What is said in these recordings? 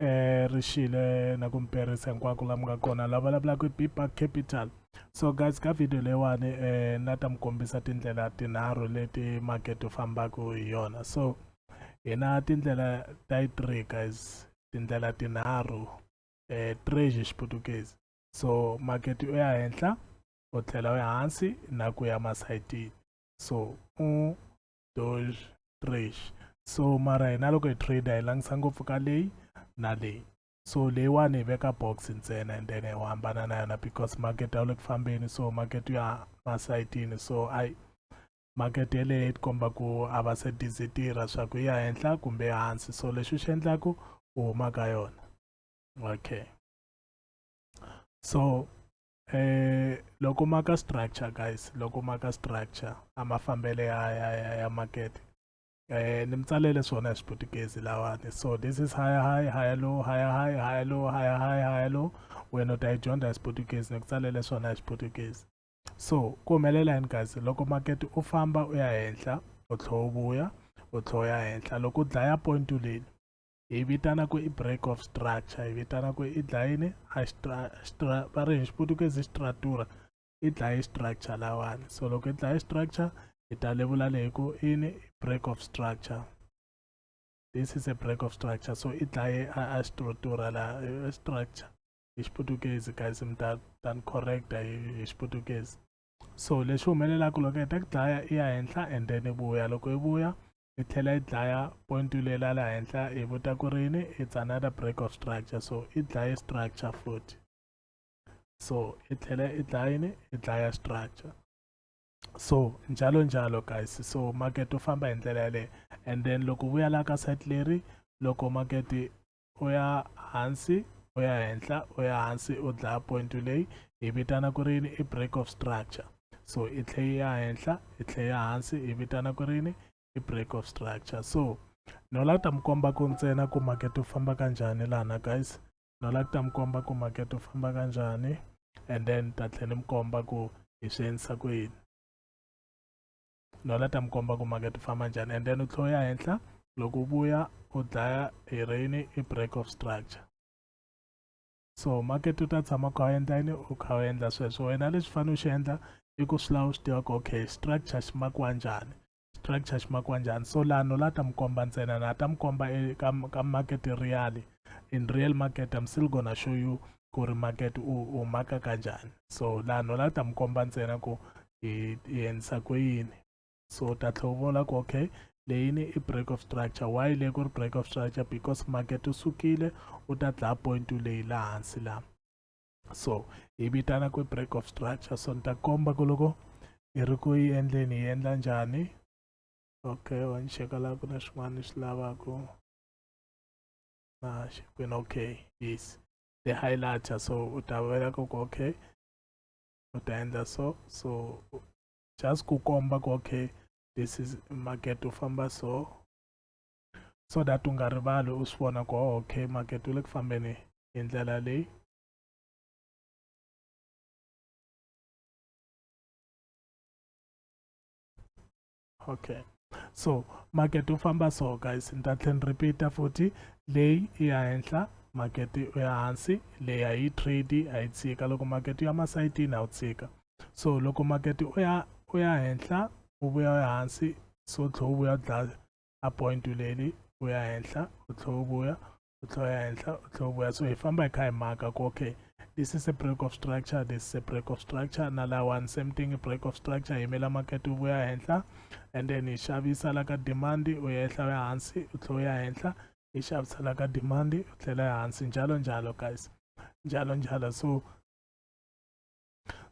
eh ri xile na ku mperisa hinkwako la mi nga kona la vulavulaka hi biba capital so guys ka video leyiwani eh na ta mi kombisa tindlela tinharhu leti makete fambaka hi yona so hina tindlela ta yi three guys tindlela tinharhu eh treasure xiputukezi so makete u ya henhla u tlhela u ya hansi na ku ya masayitini so u doge trash so mara hina loko hi trade hi langisa ngopfu ka leyi na leyi so leyiwani hi veka box ntsena and then hi hambana na yona because market a wu le ku fambeni so market ya masayitini so ayi market yeleyo yi tikomba ku a va se dizi tirha swa ku ya henhla kumbe hansi so lexi xi endlaku u huma ka yona okay so eh loko ma ka structure guys loko ma ka structure a ma fambele ya ya ya, ya market eh ni mtsalele swona hi xiputukezi lawani so this is higher high higher low higher high higher low higher high higher low wena u ta yi dyondza hi xiputukezi ni ku tsalele swona hi xiputukezi so ku humelela yini guys loko market u famba u ya henhla u tlhela u vuya u tlhela u ya henhla loko u dlaya point u leni hi vitana ku i break of structure hi vitana ku i dlayini a stra va ri hi xiputukezi stratura i dlaye structure lawani so loko i dlaye structure hi ta levula leyi ku ini break of structure this is a break of structure so i dlaye a stratura la structure hi xiputukezi guys mi ta ta ni correcta hi xiputukezi so leswi humelelaka loko heta ku dlaya i ya henhla and then i vuya loko i vuya i tlhela i dlaya point leyi la la henhla i vuta ku rini it's another break of structure so i dlaye structure futhi so i tlhela i dlaya yini i dlaya structure so njalo njalo guys so market u famba hi ndlela yaleyo and then loko u vuya la ka site leri loko market u ya hansi u ya henhla u ya hansi u dlaya point leyi hi vitana ku rini i break of structure so i tlhe ya henhla i tlhe ya hansi hi vitana ku rini i break of structure so no la ta mi komba ku ntsena ku makete u famba kanjhani lana guys no la ta mi komba ku makete u famba kanjhani and then ta tlhe ni mi komba ku hi swi endlisa ku yini nala ta mi komba ku makete u famba njhani and then u tlhe u ya henhla loko u vuya u dlaya hi reyini i break of structure so makete u ta tshama u kha u endla yini u kha u endla sweswo wena lexi fanele u xi endla i ku swi lava u swi tiva ku okay structure xi makiwa njhani structure xi makiwa njhani so laha no la ta mi komba ntsena na ta mi komba eka ka market real in real market i'm still gonna show you ku ri market u u maka kanjani so laha no la ta mi komba ntsena ku hi endlisa ku yini so u ta tlhela u vona ku okay leyini i break of structure why leyi ku ri break of structure because market u sukile u ta dlaya point leyi la hansi la so hi vitana ku break of structure so ni ta komba ku loko hi ri ku yi endleni hi endla njhani okay wa ni cheka laha ku na swin'wana ni swi lavaka ah, when okay yes the highlighter so utavela ku okay utaenda so so just ku komba ku okay this is market u famba so so that u nga rivali u swi vona ku oh, okay market u le ku fambeni hi ndlela leyi okay so makete u famba so guys ni ta tlhe ni repeata futhi leyi i ya henhla makete u ya hansi leyi a yi trade a yi tshika loko makete u ya masayitini a wu tshika so loko makete u ya u ya henhla u vuya u ya hansi so tlhe u vuya u dlaya a point leli u ya henhla u tlhe u vuya u tlhela ya henhla u tlhela vuya so hi famba hi kha hi maka ku okay this is a break of structure this is a break of structure na lawani same thing break of structure yimela market wu vuya henhla and then hi xavisa la ka demand u ya ehla ya hansi u tlhela u ya henhla hi xavisa la ka demand u tlhela ya hansi njalo njalo guys njalo njalo so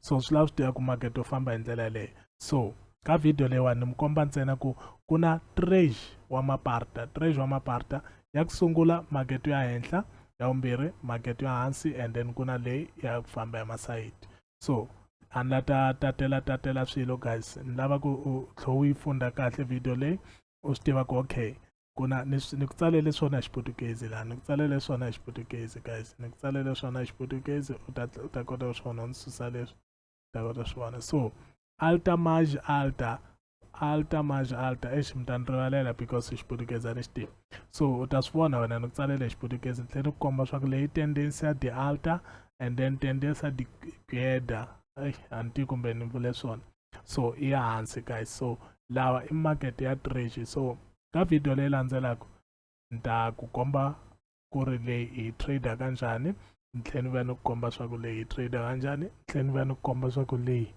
so swi lava swi tiva ku makete wu famba hi ndlela yeleyo so ka video leyiwani ni mi komba ntsena ku ku na trage wa maparta trage wa maparta ya ku sungula makete ya henhla ya vumbirhi makete ya hansi and then ku na leyi ya ku famba ya masayiti so a ni la ta tatela tatela swilo guys ni lava ku u tlhe u yi funda kahle video leyi u swi tiva ku okay ku na ni ni ku tsalele swona hi xiputukezi laha ni ku tsalele swona hi xiputukezi guys ni ku tsalele swona hi xiputukezi u ta u ta kota ku swona u ni susa leswi u ta kota swona so alta maj alta alta maj alta exi mi ta ni rivalela because hi xiputukezi a ni xi tivi so u ta swi vona wena ni ku tsalele hi xiputukezi ni tlhela ni ku komba swa ku leyi tendency ya di alta and then tendency ya di gueda a ni tivi kumbe ni vule swona so i ya hansi guys so lawa i market ya treasy so ka video leyi landzelaka ni ta ku komba ku ri leyi hi trader ka njhani ni tlhela ni va ni ku komba swa ku leyi hi trader ka njhani ni tlhela ni va ni ku komba swa ku leyi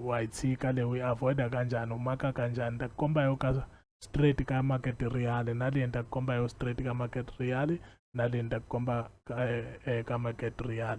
wa yi tshika leyi u yi avoida ka njhani u maka ka njhani ni ta ku komba yo ka straight ka market real na leyi ni ta ku komba yo straight ka market real na leyi ni ta ku komba ka, eh, eh, ka market real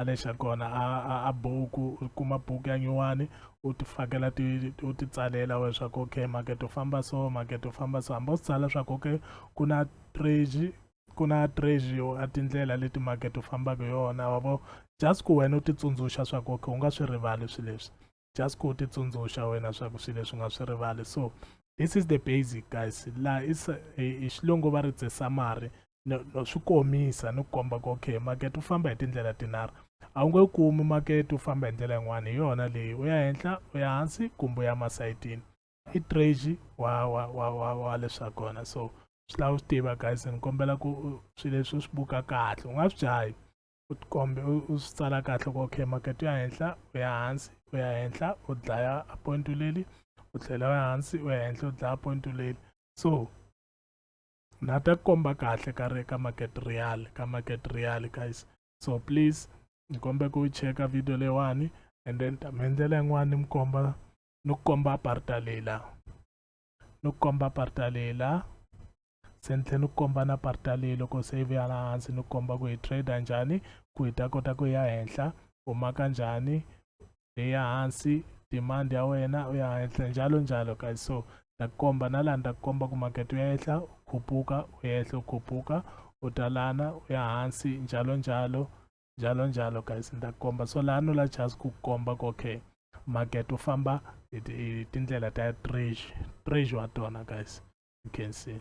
a lexa kona a a, a buku u kuma buku ya nyuwani u ti fakela ti u ti tsalela we swa ku okay makete u famba so makete u famba so hambi u swi tsala swa ku okay ku na treji ku na treji yo a tindlela leti makete u fambaka yona wa vo just ku wena u ti tsundzuxa swa ku okay u nga swi rivali swi leswi just ku ti tsundzuxa wena swa ku swilo leswi nga swi rivali so this is the basic guys la is hi xilungu va ri tse summary no, no swi komisa ni ku komba ku okay makete u famba hi tindlela tinharhu a wu nge wu kumi makete u famba hi ndlela yin'wana hi yona leyi u ya henhla u ya hansi kumbe u ya masayitini i trage wa wa wa wa wa leswa kona so swi lava u swi tiva guys ni kombela ku swilo leswi u swi buka kahle u nga swi jahi u tikombe u swi tsala kahle ku okay makete ya henhla u ya hansi u ya henhla u dlaya point leli u tlhela u ya hansi u ya henhla u dlaya point leli so na ta komba kahle ka ri ka market real ka market real guys so please ni kombe ku cheka video leyiwani and then ta mi endlela yin'wana ni mi komba ni ku komba aparta leyi laha ni ku komba parta leyi la se ni tlhela ni komba na parta leyi loko se yi vuya la hansi ni komba ku hi trade njhani ku hi ta kota ku ya henhla u maka njhani leyi ya hansi demand ya wena u ya henhla njalo njalo ka so ta komba na laha ni ta komba ku makete u ya ehla u khuphuka u yehla u khuphuka u ta lana u ya hansi njalo njalo njalo njalo guys ni ta ku komba so laha no la chance ku komba ku okay market u famba hi tindlela ta treasure treasure wa tona guys you can see